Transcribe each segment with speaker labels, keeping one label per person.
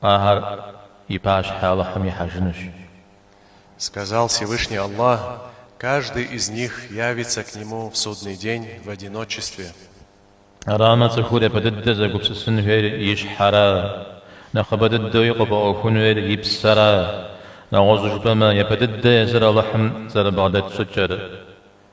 Speaker 1: Ахэр и пащхьэ Алыхьым
Speaker 2: ихьэжынущ. Сказал Всевышний Аллах, Каждый из них явится к Нему в Судный день в одиночестве.
Speaker 1: Арамэ цӏыхур япэ дыдэ зэгупсысын хуейр и щхьэра, нэхъыбэ дыдэуи къыфӏэӏуэхун хуейр и псэра? Нэгъуэщӏу жыпӏэмэ, япэ дыдэ езыр Алыхьым зэрыбгъэдэт щӏыкӏэра.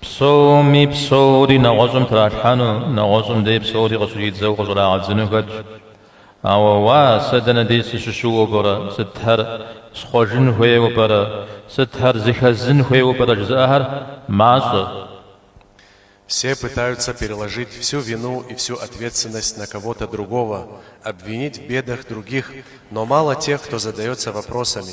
Speaker 1: Псоми псори нэгъуэщӏым тралъхьэну, нэгъуэщӏым дей псори къыщыщӏидзэу къыщӏрагъэдзыну хэтщ. Ауэ уа, сэ дэнэ дей сыщыщыуэу пӏэрэ, сытхэр схъуэжын хуейуэ пӏэрэ, сытхэр зыхэзнын хуейуэ пӏэрэ жызыӏэхэр
Speaker 2: мащӏэ. Все пытаются переложить всю вину и всю ответственность на кого-то другого, обвинить в бедах других, но мало тех, кто задается вопросами,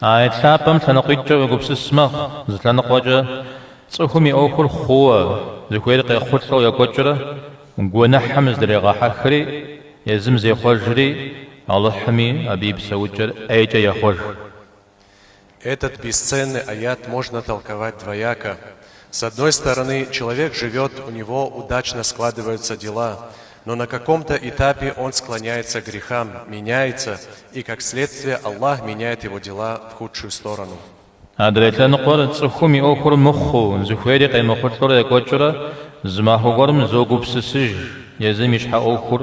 Speaker 2: Аят лъапӏэм лъэныкъуитӏкӏэ уегупсыс мэхъу, зы лъэныкъуэкӏэ цӏыхум и ӏуэхур хъууэ, зыхуейр къехъулӏэу екӏуэкӏрэ, гуэныхьым зыдрегъэхьэхри, езым зехъуэжри, Алыхьми абы и псэукӏэр ӏейкӏэ ехъуэж. Этот бесценный аят можно толковать двояко. С одной стороны, человек живет, у него удачно складываются дела, но на каком-то этапе он склоняется к грехам, меняется, и как следствие Аллах меняет его дела в худшую сторону. Адрей лъэныкъуэр цӏыхум и ӏуэхур мыхъуу, зыхуейри къемыхъулӏэурэ екӏуэкӏыурэ, зы махуэ гуэрым зогупсысыж, езым и щхьэ ӏуэхур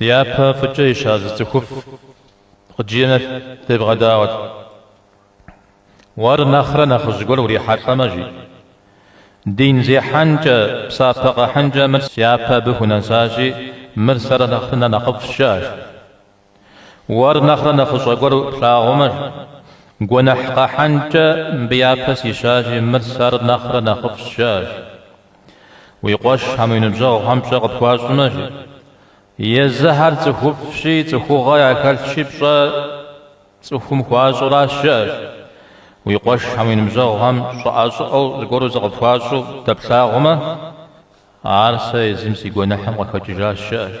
Speaker 2: Дяпэ
Speaker 1: фӏыкӏэ ища зы цӏыхуфӏ къыджиӏэм девгъэдаӏуэт. Уэр нэхърэ нэхъыжь гуэр урихьэлӏэмэ, жи. Дин зехьэнкӏэ, псапэ къэхьынкӏэ мыр сяпэ абы хунэсащи, мыр сэр нэхърэ нэхъыфӏщ, жыӏэ, жи. Уэр нэхърэ нэхъыщӏэ гуэр плъагъумэ, жи. Гуэныхь къэхьынкӏэ мыбы япэ сищащи, мыр сэр нэхърэ нэхъыфӏщ, жыӏэ, жи. Уи къуэшхэм, уи ныбжьэгъухэм пщӏэ къыпхуащӏмэ, жи. Езыхэр цӏыхуфӏщи, цӏыхугъэ яхэлъщи пщӏэ цӏыхум хуащӏу аращ, жыӏэ, жи. Уи къуэшхэм, уи ныбжьэгъухэм щӏыӏэ-щӏыӏэу зыгуэру зыкъыпхуащӏу дэплъагъумэ, ар сэ езым си гуэныхьым къыхэкӏыжащ,
Speaker 2: жыӏэ, жи.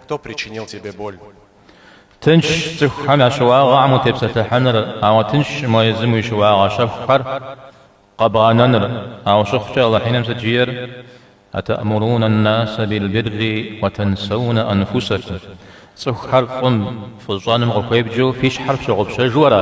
Speaker 2: Кто причинил тебе боль?
Speaker 1: Тыншщ цӏыхухэм я щыуагъэхэм утепсэлъыхьыныр, ауэ тыншкъым езым уи щыуагъэ щэхухэр къэбгъэнэныр, ауэ щыхъукӏэ Алыхь Иным сыт жиӏэр, Атаамуруна ан-наса бил-бирри ва тансауна анфусакум, цӏыхухэр фӏым, фӏыщӏэным къыхуевджэу фи щхьэр фщыгъупщэжу ара?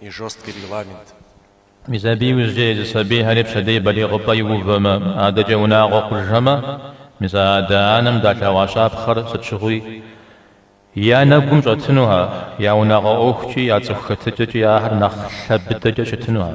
Speaker 2: и жесткий регламент. Мис абы иужькӏэ езы сабийхэри пщэдей балигъыпӏэ иувэмэ, адэкӏэ унагъуэ хъужхэмэ,
Speaker 1: мис а адэ-анэм далъэгъуа щапхъэр сыт щыгъуи я нэгум щӏэтынухэ, я унагъуэ ӏуэхукӏи, я цӏыху хэтыкӏэкӏи ахэр нэхъ лъэ быдэкӏэ щытынухэ.